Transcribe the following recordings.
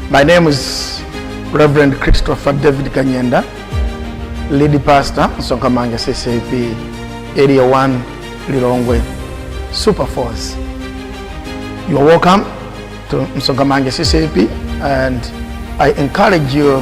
My name is Reverend Christopher David Kanyenda, lead pastor, Sokamanga CCP, Area 1, Lilongwe, Superforce. You are welcome to Msogamange CCP and I encourage you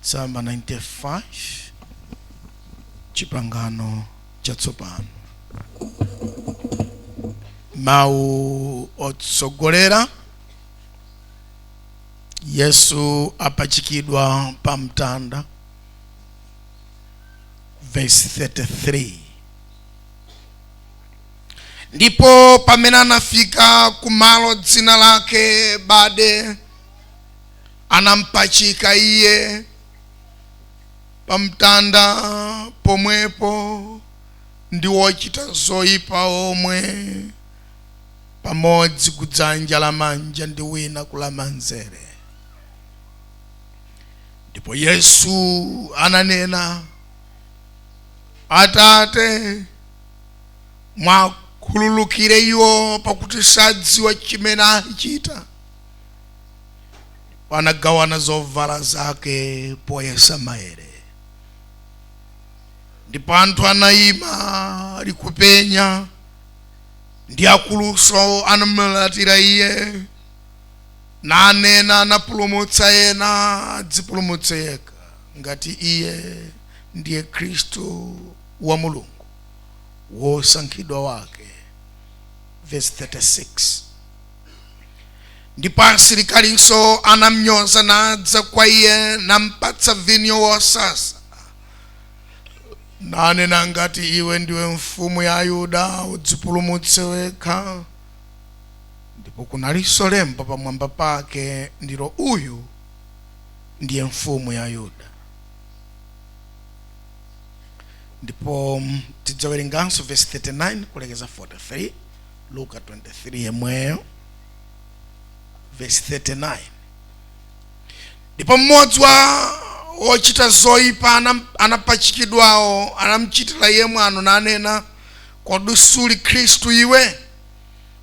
Salmo 95, Chipangano Chatsopano, Mawu otsogolera, Yesu apachikidwa pa mtanda, vesi 33. Ndipo pamene anafika kumalo dzina lake Bade, anampachika Iye pamtanda pomwepo ndi wochita zoipa omwe pamodzi kudzanja lamanja ndi wina kulamanzere. Ndipo Yesu ananena, Atate, mwakhululukire iwo pakuti sadziwa chimene achita. ndipo anagawana zovala zake poyesa maere ndipo anthu anayima alikupenya ndi akulunso anamulatira iye nanena anapulumutsa ena adzipulumutse yekha ngati iye ndiye khristu wa mulungu wosankhidwa wake verse 36 ndipo asilikalinso anamnyoza nadza kwa iye nampatsa vinyo wosasa nanena ngati iwe ndiwe mfumu ya ayuda udzipulumutse wekha ndipo kunalinso lembo pamwamba pake ndilo uyu ndiye mfumu ya ayuda ndipo tidzawerenganso vesi 39 kulekeza 43 luka 23 yemweyo verse 39 ndipo mmodzi wa ochita zoyipa anam- anapachikidwawo anamchitira iye mwano nanena kodi suli khristu iwe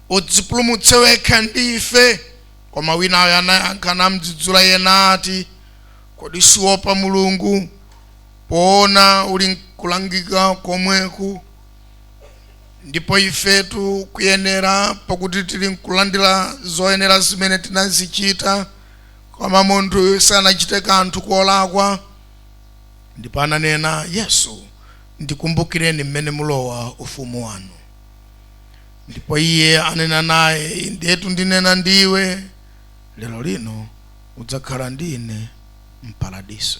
udzipulumutse wekha ndi ife koma winayo anayankha namdzudzula iye nati kodi suopa mulungu poona uli nkulangika komweku ndipo ifetu kuyenera pakuti tili nkulandira zoyenera zimene tinazichita koma munthu sanachite kanthu kolakwa ndipo ananena yesu ndikumbukireni mmene mulowa ufumu wanu ndipo iye ananena naye indetu ndinena ndiwe lero lino udzakhala ndi ine mparadiso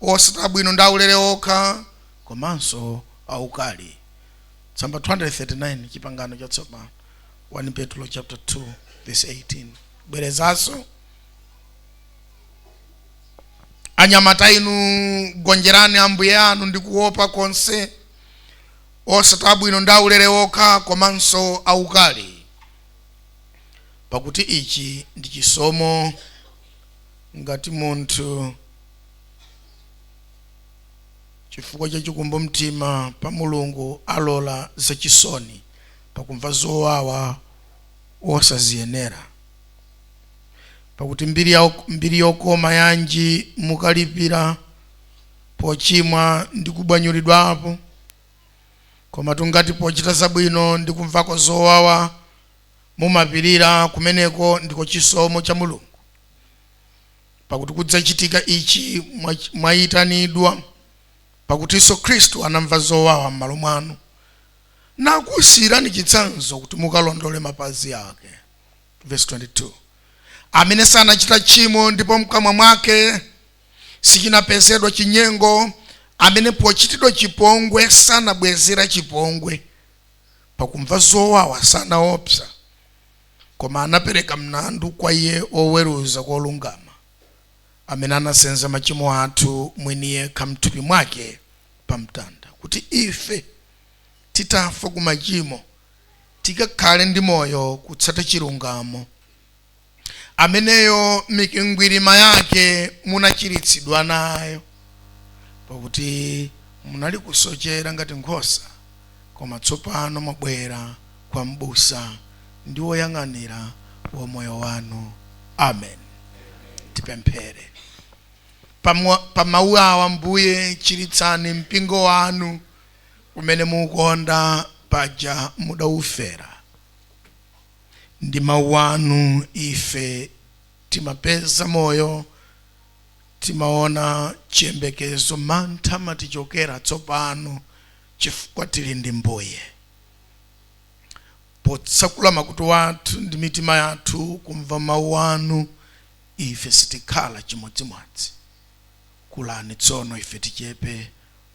Osati abwino ndi aulere okha komanso aukali. Tsamba 239 Chipangano Chatsopano 1 Petulo chapter 2 verse 18 Bwerezanso Anyamata inu, gonjerani ambuye anu ndi kuopa konse, osati abwino ndi aulere okha, komanso aukali, pakuti ichi ndi chisomo ngati munthu chifukwa cha chikumbumtima pa Mulungu alola zachisoni pakumva zowawa wosaziyenera. Pakuti mbiri, ya, mbiri yokoma yanji mukalipira pochimwa ndi kubwanyulidwapo? Komatu ngati pochita zabwino ndi kumvako zowawa mumapirira, kumeneko ndiko chisomo cha Mulungu. Pakuti kudzachitika ichi mwa, mwayitanidwa, pakutinso Khristu anamva zowawa m'malo mwanu, nakusiyirani chitsanzo kuti mukalondole mapazi ake, vesi 22 Amene sanachita tchimo, ndipo mkamwa mwake sichinapezedwa chinyengo, amene pochitidwa chipongwe sanabwezera chipongwe, pakumva zowawa sanaopsa. koma anapereka mlandu kwa Iye woweruza kolungama, amene anasenza machimo athu mwini yekha m'thupi mwake pa mtanda, kuti ife, titafa ku machimo, tikakhale ndi moyo kutsata chilungamo, ameneyo mikwingwirima yake munachiritsidwa nayo, pakuti munali kusochera ngati nkhosa, koma tsopano mwabwera kwa m'busa ndi woyang'anira wa moyo wanu. Amen. Tipemphere. Pa mawu awa, Ambuye, chiritsani mpingo wanu umene muukonda paja mudaufera. Ndi mawu anu ife timapeza moyo, timaona chiyembekezo, mantha amatichokera tsopano chifukwa tili ndi Mbuye. potsakula makutu athu ndi mitima yathu kumva mawu anu ife sitikhala chimodzimodzi kulani tsono ife tichepe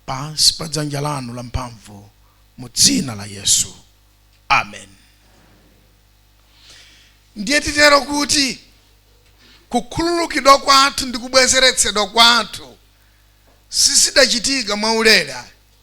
pansi pa dzanja lanu la mphamvu mu dzina la yesu amen ndiye titero kuti kukhululukidwa kwathu ndi kubwezeretsedwa kwathu sizidachitika mwaulere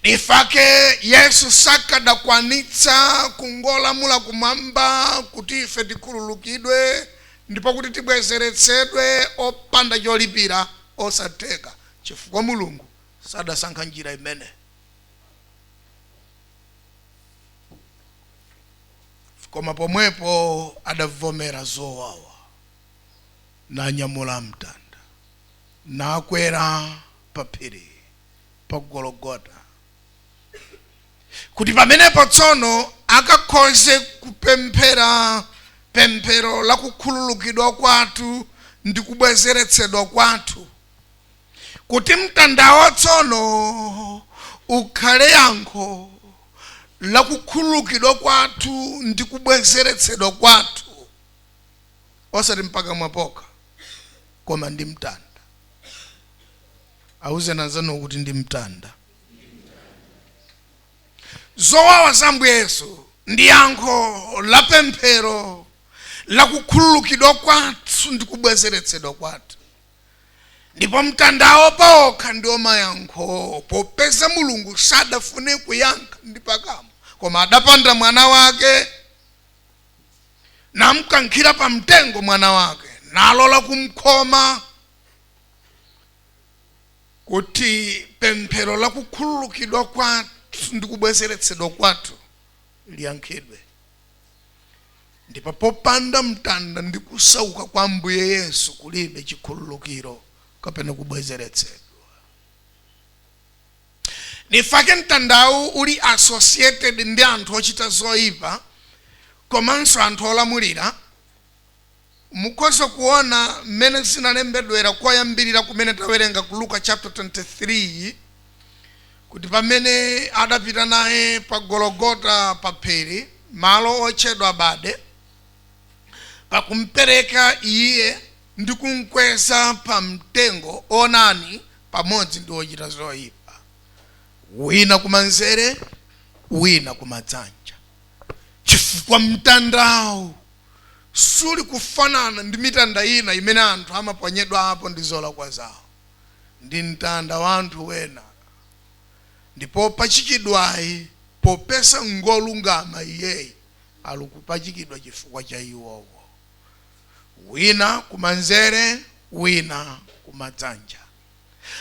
ndifake yesu sakadakwanitsa kungolamula kumwamba kuti ife tikhululukidwe ndipo kuti tibwezeretsedwe opanda cholipira osatheka chifukwa mulungu sadasankha njira imeneyo koma pomwepo adavomera zowawa nanyamula mtanda nakwera pa phiri, pa Gologota, kuti pamenepo tsono akakhoze kupemphera pemphero la kukhululukidwa kwathu ndi kubwezeretsedwa kwathu kuti mtandawo tsono ukhale yankho la kukhululukidwa kwathu ndi kubwezeretsedwa kwathu osati m'pakamwa pokha koma ndi mtanda auzeni anzanuwo kuti ndi mtanda zowawa za ambuye yesu ndi yankho la pemphero la kukhululukidwa kwathu ndi kubwezeretsedwa kwathu ndipo mtandawo paokha ndiwo mayankho popeza mulungu sadafune kuyankha ndi pakamwa koma adapanda mwana wake namkankhira pa mtengo mwana wake nalola kumkhoma kuti pemphero la kukhululukidwa kwathu ndi kubwezeretsedwa kwathu liyankhidwe ndipo popanda mtanda ndi kusauka kwa ambuye yesu kulibe chikhululukiro kapena kubwezeretsedwa Ndifake mtandawu uli associated ndi anthu ochita zoipa komanso anthu olamulira, mukhoza kuona mmene zinalembedwera koyambirira kumene tawerenga ku Luka chapter 23 kuti pamene adapita naye pa Gologota pa phiri, malo otchedwa Bade, pakumpereka Iye ndi kumkweza pa mtengo, onani, pamodzi ndi ochita zoipa, wina kumanzere, wina kumadzanja, chifukwa mtandawo suli kufanana ndi mitanda ina imene anthu amaponyedwapo ndi zolakwa zawo. Ndi mtanda wa anthu wena, ndipo opachikidwayi popeza ngwolungama iyeyi, alikupachikidwa chifukwa cha iwowo. wina kumanzere wina kumadzanja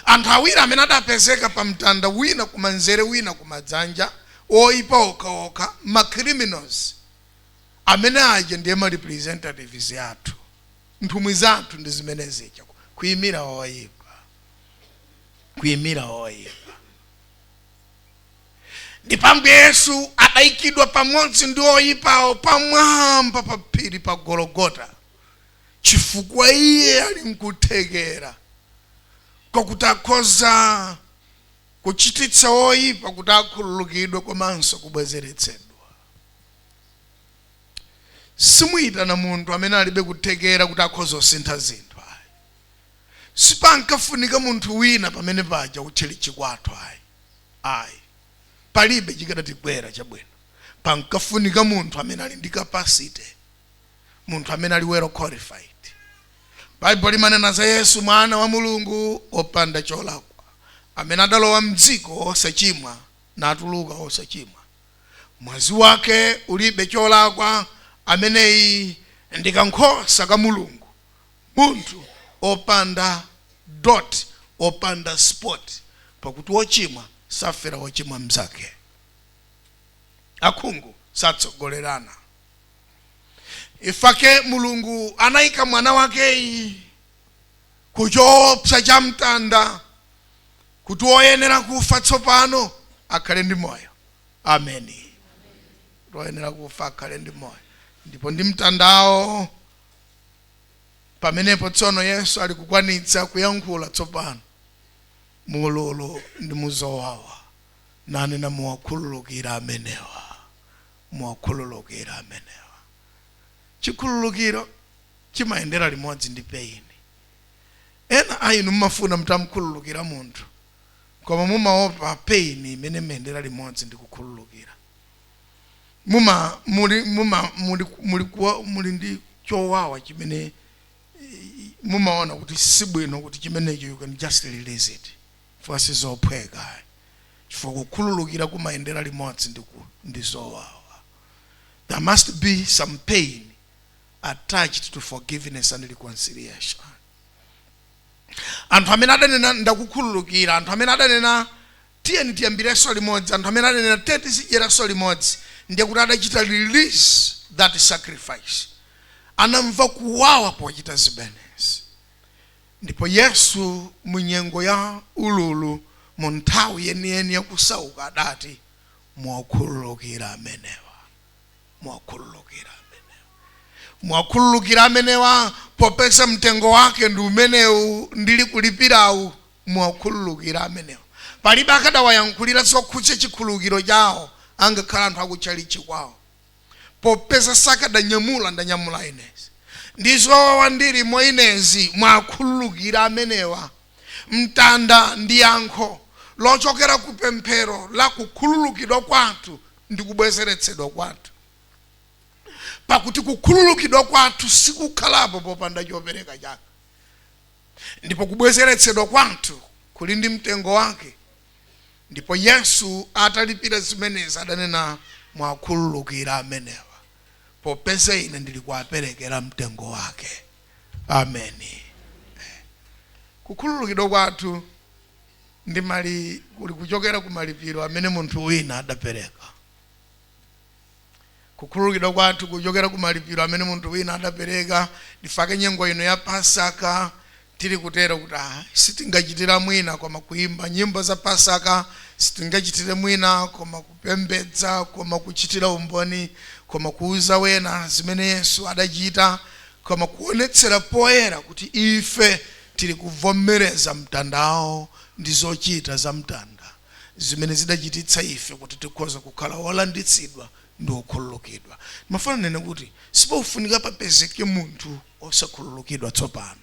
anthu awiri amene adapezeka pa mtanda wina kumanzere wina kumadzanja oipa okhaokha ma criminals amene aja ndiye ma representatives athu nthumwi zathu ndi zimene zija kuimira oipa kuimira oipa ndipo ambuye yesu adayikidwa pamodzi ndi oyipawo pamwamba pa phiri pa gologota chifukwa iye ali nkuthekera kwakuti akhoza kuchititsa oyipa kuti akhululukidwe komanso kubwezeretsedwa simuyitana munthu amene alibe kuthekera kuti akhoza kusintha zinthu ayi sipankafunika munthu wina pamene paja kutchalitchi kwathu ayi ayi palibe chikadatigwera chabwino pankafunika munthu amene ali ndi capacity munthu amene ali well qualified baibulo limanena za yesu mwana wa mulungu opanda cholakwa amene adalowa mdziko osachimwa natuluka osachimwa mwazi wake ulibe cholakwa ameneyi ndi kankhosa ka mulungu Munthu opanda dot opanda spot pakuti wochimwa safera wochimwa mzake. Akhungu satsogolerana. Ifake Mulungu anaika mwana wakeyi ku choopsa cha mtanda kuti woyenera kufa tsopano akhale ndi moyo. Ameni. Kuti woyenera kufa akhale ndi moyo ndipo ndi mtandawo. Pamenepo tsono Yesu ali kukwanitsa kuyankhula tsopano mu ululu ndi mu zowawa, nanena, Muwakhululukire amenewa, muwakhululukire amenewa. Chikhululukiro chimayendera limodzi ndi pain. Ena a inu mumafuna mutamukhululukira munthu, koma mumaopa pain imene imayendera limodzi ndi kukhululukira. muma muli muma muli muli kuwa muli ndi chowawa chimene mumaona kuti sibwino kuti chimenecho you can just release it chifukwa sizophweka chifukwa kukhululukira kumayendera limodzi ndi ku- ndi zowawa there must be some pain attached to forgiveness and reconciliation anthu amene adanena ndakukhululukira anthu amene adanena Tiyeni tiyambirenso limodzi. Anthu amene adanena tiyeni tizidyeranso limodzi ndiye kuti adachita release that sacrifice. Anamva kuwawa pochita zimenezi. Ndipo Yesu mu nyengo ya ululu, mu nthawi yeniyeni ya kusauka adati, Muwakhululukire amenewa. Muwakhululukire amenewa. Muwakhululukire amenewa popeza mtengo wake ndi umenewu ndili kulipirawu. muwakhululukire amenewa palibe akadawayankhulira zokhudza chikhululukiro chawo angakhale anthu aku tchalitchi kwawo popeza sakadanyamula ndanyamula inezi ndi zowawa ndilimo inezi muwakhululukire amenewa mtanda ndi yankho lochokera ku pemphero la kukhululukidwa kwathu ndi kubwezeretsedwa kwathu pakuti kukhululukidwa kwathu sikukhalapo popanda chopereka chake ndipo kubwezeretsedwa kwathu kuli ndi mtengo wake ndipo yesu atalipira zimenezi adanena muwakhululukire amenewa popeza ine ndili kuwaperekera mtengo wake ameni kukhululukidwa kwathu ndi mali kuli kuchokera ku malipiro amene munthu wina adapereka kukhululukidwa kwathu kukuchokera ku malipiro amene munthu wina adapereka nchifukwa chake nyengo ino ya pasaka tili kutero kuti ah, sitingachitire mwina koma kuimba nyimbo za pasaka sitingachitire mwina koma kupembedza koma kuchitira umboni koma kuuza ena zimene yesu adachita koma kuonetsera poyera kuti ife tili kuvomereza mtandawo ndi zochita za mtanda zimene zidachititsa ife kuti tikhoza kukhala wolanditsidwa ndi wokhululukidwa. Ndimafuna ndinene kuti sipakufunika papezeke munthu wosakhululukidwa tsopano.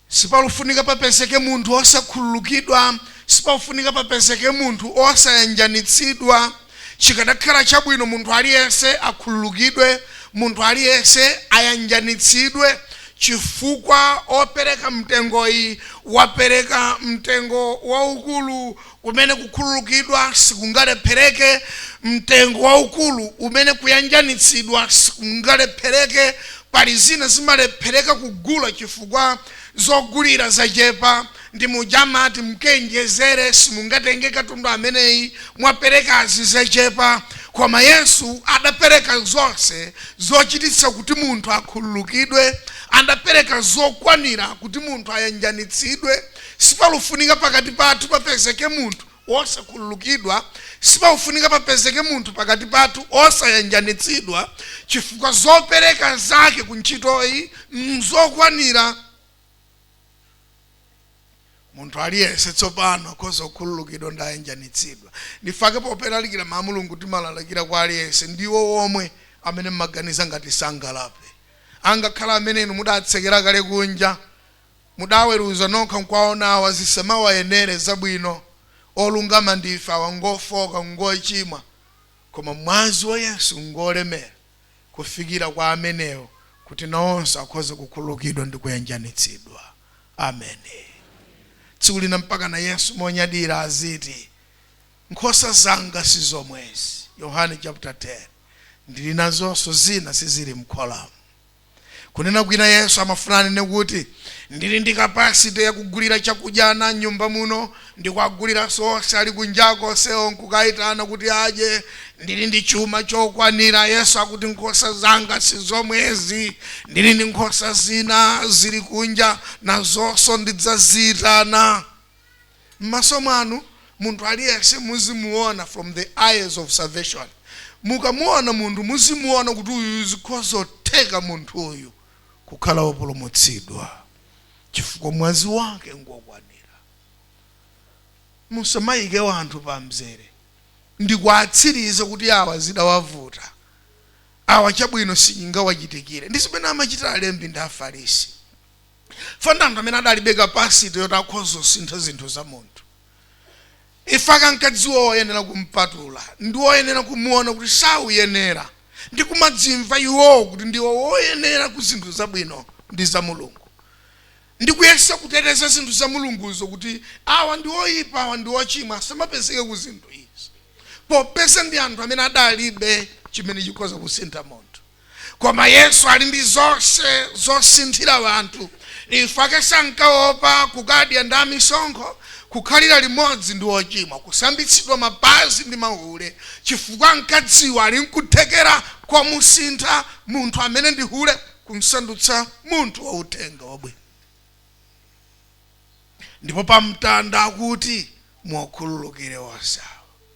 Sipakufunika papezeke munthu wosakhululukidwa. Sipakufunika papezeke munthu wosayanjanitsidwa. Chikadakhala chabwino munthu aliyense akhululukidwe, munthu aliyense ayanjanitsidwe, chifukwa wopereka mtengoyi wapereka mtengo waukulu umene kukhululukidwa sikungalephereke, mtengo waukulu umene kuyanjanitsidwa sikungalephereke. Pali zina zimalephereka kugula chifukwa zogulira zachepa. Ndi muja amati muonjezere simungatenge katundu ameneyi mwaperekazi zachepa koma Yesu adapereka zonse zochititsa kuti munthu akhululukidwe adapereka zokwanira kuti munthu ayanjanitsidwe sipakufunika pakati pathu papezeke munthu wosakhululukidwa sipakufunika papezeke munthu pakati pathu osayanjanitsidwa chifukwa zopereka zake ku ntchitoyi nzokwanira. munthu aliyense tsopano akhoza kukhululukidwa ndi kuyanjanitsidwa ndi chifukwa chake popalalikira mawu a mulungu timalalikira kwa aliyense ndi iwo omwe amene mmaganiza ngati sangalape angakhale amene inu mudatsekera kale kunja mudaweruza nokha nkuwaona awa zisamawayenere zabwino olungama ndife awa ngofoka ngochimwa koma mwazi wa yesu ngolemera kufikira kwa amenewo, kuti nawonso akhoze kukhululukidwa ndi kuyanjanitsidwa. Ameni. Tsiku lina mpakana Yesu monyadira aziti, Nkhosa zanga si zomwezi, Yohane chapter 10, ndili nazonso zina sizili m'kholamo. Kunena kwina, Yesu amafuna anene kuti, Ndili ndi capacity ya kugulira chakudya ana m'nyumba muno ndi kuwaguliranso onse ali kunjako, onsewo n'kukaitana kuti adye. Ndili ndi chuma chokwanira. Yesu akuti, Nkhosa zanga si zomwezi. Ndili ndi nkhosa zina zili kunja, nazonso ndidzaziitana. M'maso mwanu munthu aliyense muzimuona from the eyes of salvation. Mukamuona munthu muzimuona kuti uyu zikhoza kutheka munthuyu kukhala wopulumutsidwa chifukwa mwazi wake ngokwanira. Musamayike wanthu pa mzere ndikuwatsiriza kuti awa zidawavuta, awa chabwino sichingawachitikire. Ndi zimene amachita alembi ndi Afarisi. poti ndi anthu amene adalibe capacity yoti akhoza kusintha zinthu za munthu nchifukwa chake ankadziwa woyenera kumpatula ndi woyenera kumuona kuti sawoyenera ndi kumadzimva iwowo kuti ndiwo woyenera ku zinthu zabwino ndi za mulungu ndi kuyesa kuteteza zinthu za mulunguzo kuti awa ndi oyipa awa ndi ochimwa asamapezeke ku zinthu izi popeza ndi anthu amene adalibe chimene chikhoza kusintha munthu Koma Yesu ali ndi zonse zosinthira anthu, nchifukwa chake sankaopa kukadya ndi amisonkho, kukhalira limodzi ndi ochimwa, kusambitsidwa mapazi ndi mahule, chifukwa ankadziwa ali nkuthekera komusintha munthu amene ndi hule kumsandutsa munthu wa Uthenga Wabwino. ndipo pa mtanda akuti muwakhululukire onsewa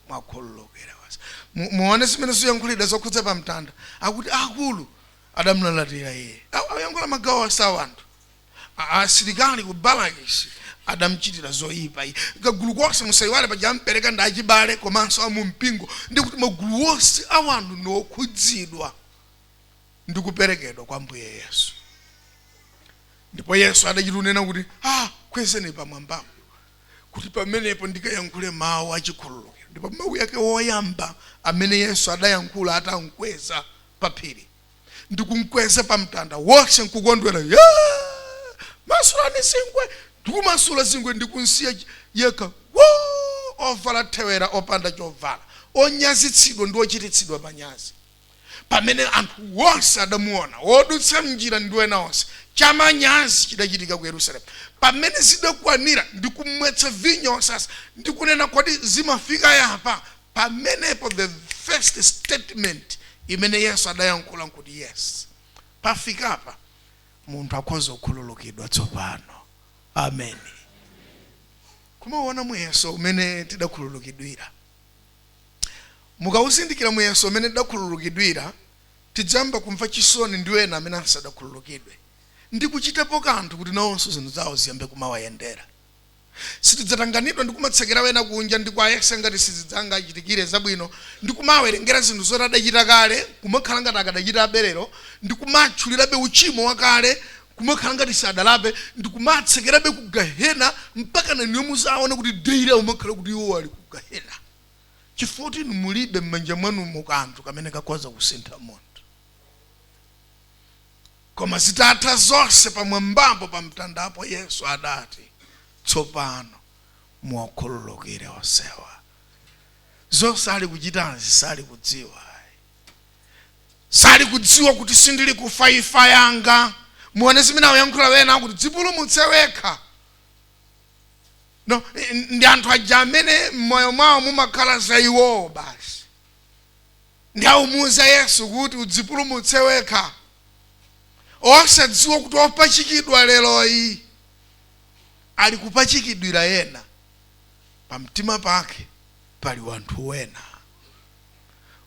muwakhululukire onsewa muone zimene ziyankhulidwa zokhudza pa mtanda akuti akulu adamlalatira iye ayankhula magawo onse a wanthu asilikali ku barracks adamchitira zoyipa iye kagulu konse musayiwale paja ompereka ndi achibale komanso amumpingo ndi kuti magulu onse a wanthu ndi okhudzidwa ndi kuperekedwa kwa mbuye yesu ndipo yesu adachita kunena kuti ah, kwezeni pamwambapo kuti pamenepo ndikayankhule mawu achikhululukiro ndipo mawu yake woyamba amene yesu adayankhula atamkweza pa phiri ndikumkweza pa mtanda onse nkukondwera ya masulani zingwe ndikumasula zingwe ndikumsiya yekha wo wovala thewera opanda chovala onyazitsidwa ndi ochititsidwa manyazi pamene anthu wonse adamuona wodutsa mnjira ndi wena wonse chamanyazi chidachitika ku yerusalemu pamene zidakwanira ndikummwetsa vinyo wosasa ndikunena kodi zimafika yapa pamenepo the first statement imene yesu adayankhula nkuti yes pafika apa munthu akhoza kukhululukidwa tsopano ameni kumawona muyeso umene tidakhululukidwira Mukauzindikira muyeso umene tidakhululukidwira, tidzamba kumva chisoni ndi ena amene asadakhululukidwe, ndi kuchitapo kanthu kuti nawonso zinthu zawo ziyambe kumawayendera. Sitidzatanganidwa ndi kumatsekera ena kunja ndi kuwayesa ngati sizidzangachitikire zabwino, ndi kumaawerengera zinthu zoti adachita kale, kumakhala ngati akadachitabe lero, ndi kumatchulirabe uchimo wakale Kumakhala ngati sadalape ndikumaatsekerabe ku Gahena mpakana inuyo muzaaone kuti daily akumakhala kuti iwowo ali ku Gahena chifukwa kuti inu mulibe m'manja mwanumo kanthu kamene kakhoza kusintha munthu. Koma zitatha zonse pamwambapo pa mtandapo Yesu adati, Tsopano muwakhululukire onsewa. Zonse ali kuchitazi sali kudziwa ayi. sali kudziwa kuti sindili kufa imfa yanga muone zimene akuyankhula wena kuti dzipulumutse wekha no n- ndi anthu aja amene m'moyo mwawo mumakhala za iwowo basi ndi aumuuza yesu kuti udzipulumutse wekha osadziwa kuti opachikidwa leroyi ali kupachikidwira ena pamtima pake pali wanthu wena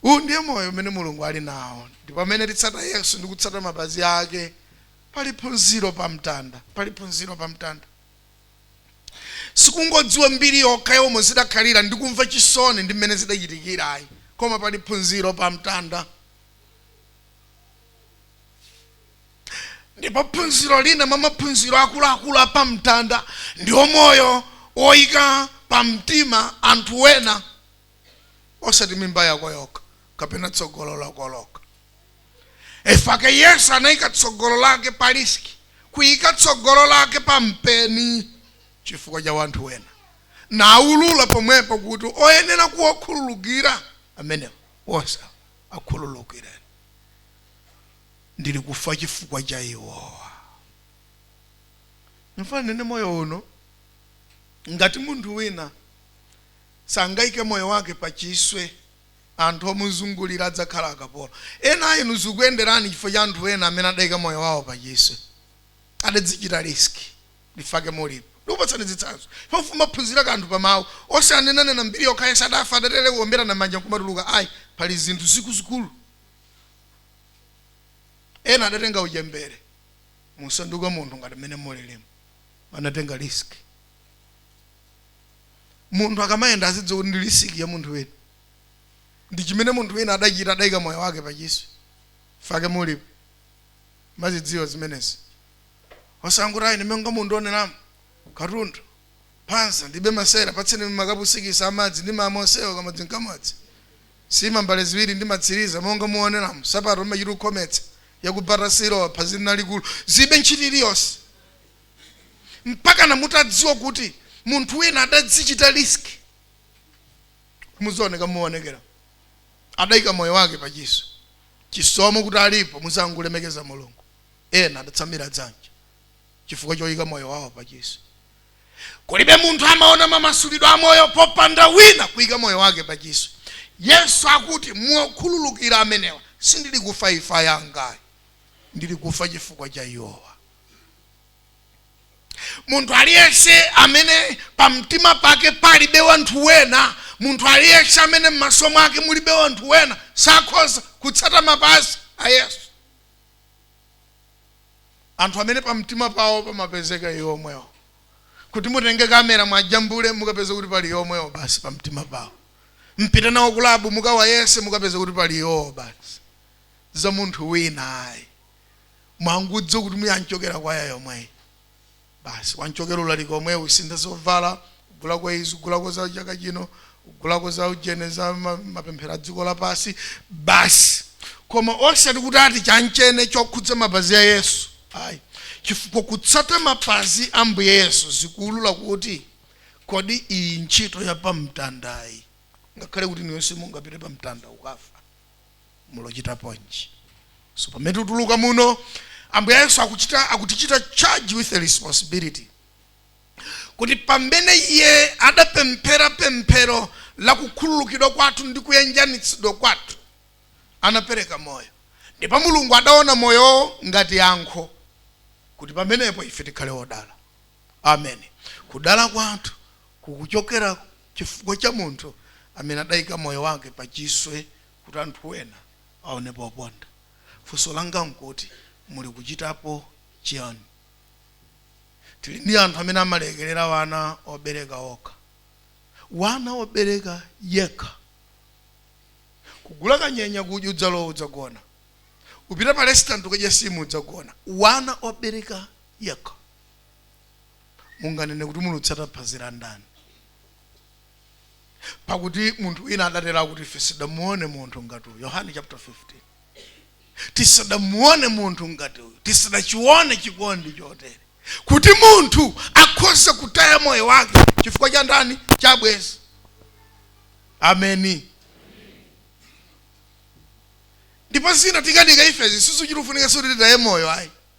Uwu ndiye moyo umene Mulungu ali nawo. Ndipo pamene titsata Yesu ndi kutsata mapazi Ake, pali phunziro pa mtanda. Pali phunziro pa mtanda. Sikungodziwa mbiri yokha ya umo zidakhalira ndi kumva chisoni ndi mmene zidachitikira ayi, koma pali phunziro pa mtanda. Ndipo phunziro lina mwa maphunziro akuluakulu a pa mtanda ndiwo moyo woika pamtima anthu ena. osati mimba yako yokha kapena tsogolo lako lokha efake yesu anayika tsogolo lake pa riski kuyika tsogolo lake pa mpeni chifukwa cha wanthu wena nawulula pomwepo kuti oyenera kuwakhululukira amenewo onse akhululukireni ndili kufa chifukwa cha iwowa mfanene moyo uno ngati munthu wina Sangaike moyo wake pachiswe. Anthu omuzungulira adzakhala akapolo. Ena a inu zikukuyenderani chifukwa cha anthu ena amene adaika moyo wawo pachiswe. Adadzichita risk ndi fake mulipo. Ndikupatsani zitsanzo. Chifukwa mumaphunzira kanthu pa mawu. Osanenanena mbiri yokha Yesu adafa, adatere, kuomberana m'manja nkumatuluka ayi. Pali zinthu zikuluzikulu. Ena adatenga uchembere. Musanduke munthu ngati mmene mulilimu. Anatenga risk. munthu akamayenda azidziwa kuti ndi lisiki ya munthu wina ndi chimene munthu wina adachita adayika moyo wake pachiswe fake mulipo mazidziwa zimenezi osangoti ayi ndi monga mundioneramu katundu pansa ndibe masera patseni makapu sikisi amadzi ndimamwa onsewo kamodzi nkamodzi nsima mbale ziwiri ndimatsiriza monga muoneramu nsapato mmachita kukhometsa ya ku bata silowa phazili nalikulu zibe ntchito iliyonse mpakana mutadziwa kuti munthu wina adadzichita risk muzaoneka muonekera adayika moyo wake pachiswe chisomo kuti alipo muzangolemekeza mulungu ena adatsamira dzanja chifukwa choyika moyo wawo pachiswe kulibe munthu amaona mamasulidwe a moyo popanda wina kuyika moyo wake pachiswe yesu akuti muwakhululukire amenewa sindili kufa imfa yanga ayi ndili kufa chifukwa cha iwowa munthu aliyense amene pamtima pake palibe wanthu wena munthu aliyense amene m'maso mwake mulibe wanthu wena sakhoza kutsata mapazi a yesu anthu amene pamtima pawo pamapezeka iwo omwewo kuti mutenge kamera muwajambule mukapeza kuti pali iwo omwewo basi pamtima pawo mpite nawo ku labu mukawayese mukapeza kuti pali iwowo basi za munthu wina ayi mwangodziwa kuti muli anchokera kwaya yomweyi basi wanchokera ulaliki omwewu usintha zovala ugulako izi ugulako za chaka chino ugulako za ujene za ma- mapemphero a dziko lapansi basi koma osati kuti ati chenicheni chokhudza mapazi a yesu ayi chifukwa kutsata mapazi a ambuye yesu zikuulula kuti kodi iyi ntchito ya pamtandayi ngakhale kuti inuyo simungapite pamtanda kukafa mulochita ponji so pamene tikutuluka muno ambuye yesu akuchita akutichita charge with a responsibility kuti pamene iye adapemphera pemphero la kukhululukidwa kwathu ndi kuyanjanitsidwa kwathu anapereka moyo ndipo mulungu adaona moyo ngati yankho kuti pamenepo ife tikhale odala amen kudala kwathu kukuchokera chifukwa cha munthu amene adaika moyo wake pa chiswe kuti anthu ena aone poponda. Funso langa nkuti muli kuchitapo chiyani? Tili ndi anthu amene amalekerera wana obereka okha, wana obereka yekha, kugula kanyenya kudya udzalowa udzagona, kupita pa restaurant ukadya nsima udzagona, wana obereka yekha. munganene kuti mulutsata phazi la ndani pakuti munthu wina adatero kuti ife sidamuone munthu ngati uyu yohane chapter 15 tisadamuone munthu ngati uyu tisadachione chikondi chotere kuti munthu akhoza kutaya moyo wake chifukwa cha ndani cha bwenzi ameni ndipo zinatikanika ifezi sizuchita kufunika sikuti titaye moyo ayi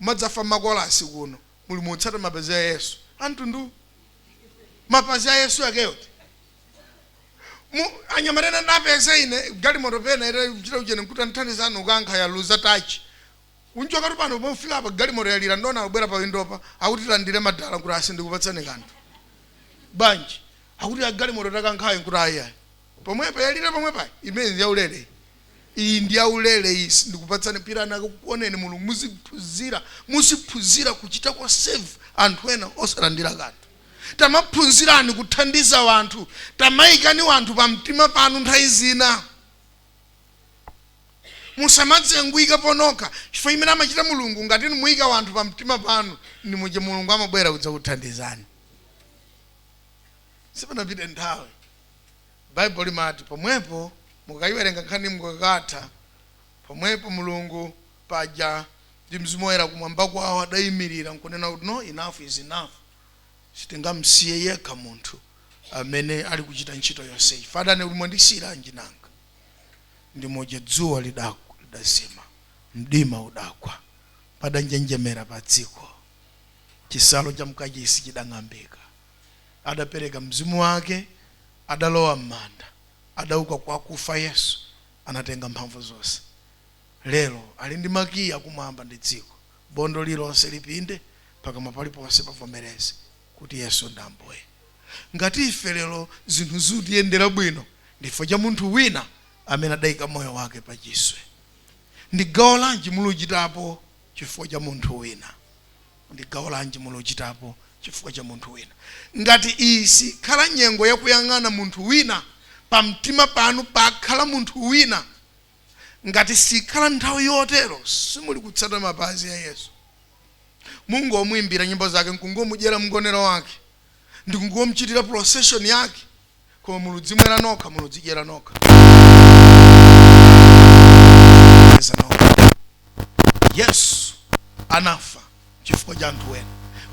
umadzafa mmakolasi kuno muli motsata mapazi a Yesu. A mtunduwu. Mapazi a Yesu ake ati? Mu, anyamata ena ndapeza ine, galimoto pena itachita ujeni nkuti tandithandizani kukankha yaluza touch. Kuchokatu pano pofika apa galimoto yalira ndiona akubwera pa window pa, akuti tilandire madala nkuti ah sindikupatsani kanthu. Bwanji? Akuti ya galimoto takankhayi nkuti ayi ayi. Pomwepa, yalira pomwepa. Imeneyi ndi yaulere iyi. Iyi ndi yaulere iyi. Sindikupatsani pitani akuoneni Mulungu. Muziphunzira, muziphunzira kuchita kuwa serve anthu ena osalandira kanthu. Tamaphunzirani kuthandiza wanthu. Tamayikani wanthu pamtima panu nthawi zina. Musamadzingoikapo nokha chifukwa chimene amachita Mulungu ngati inu muyika wanthu pamtima panu ndi muja Mulungu amabwera kudzakuthandizani. Sipanapite nthawi. Baibulo limati, Pomwepo mukaiwerenga nkhaniyi mukakatha, pomwepo Mulungu paja ndi Mzimu Woyera kumwamba kwawo adaimirira n'kunena kuti, No, enough is enough. Sitingam'siye yekha munthu amene ali kuchita ntchito yonseyi chifukwa adanena kuti, Mwandisiyiranji nanga? Ndi muja dzuwa lidazima, mdima udagwa, padanjenjemera pa dziko, chinsalu cha m'kachisi chidang'ambika. adapereka Mzimu wake, adalowa m'manda, adauka kwa kufa Yesu anatenga mphamvu zonse. Lero ali ndi makiyi akumwamba ndi dziko. Bondo lililonse lipinde, pakamwa paliponse pavomereze kuti Yesu ndi Ambuye. Ngati ife lero zinthu zutiyendera bwino ndi chifukwa cha munthu wina amene adaika moyo wake pachiswe. Ndi gawo lanji muluchitapo chifukwa cha munthu wina? Ndi gawo lanji mulochitapo chifukwa cha munthu wina? Ngati iyi sikhala nyengo ya kuyang'ana munthu wina, pamtima panu pakhala munthu wina. Ngati sikhala nthawi yotero, simuli kutsata mapazi ya Yesu. Mungoomuimbira nyimbo zake nkungomudyera mgonero wake. ndikungomchitira procession yake koma muludzimwera nokha muludzidyera nokha Meza nokha. yesu anafa chifukwa cha anthu ena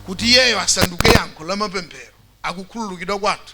kuti iyeyo asanduke yankho la mapemphero akukhululukidwa kwathu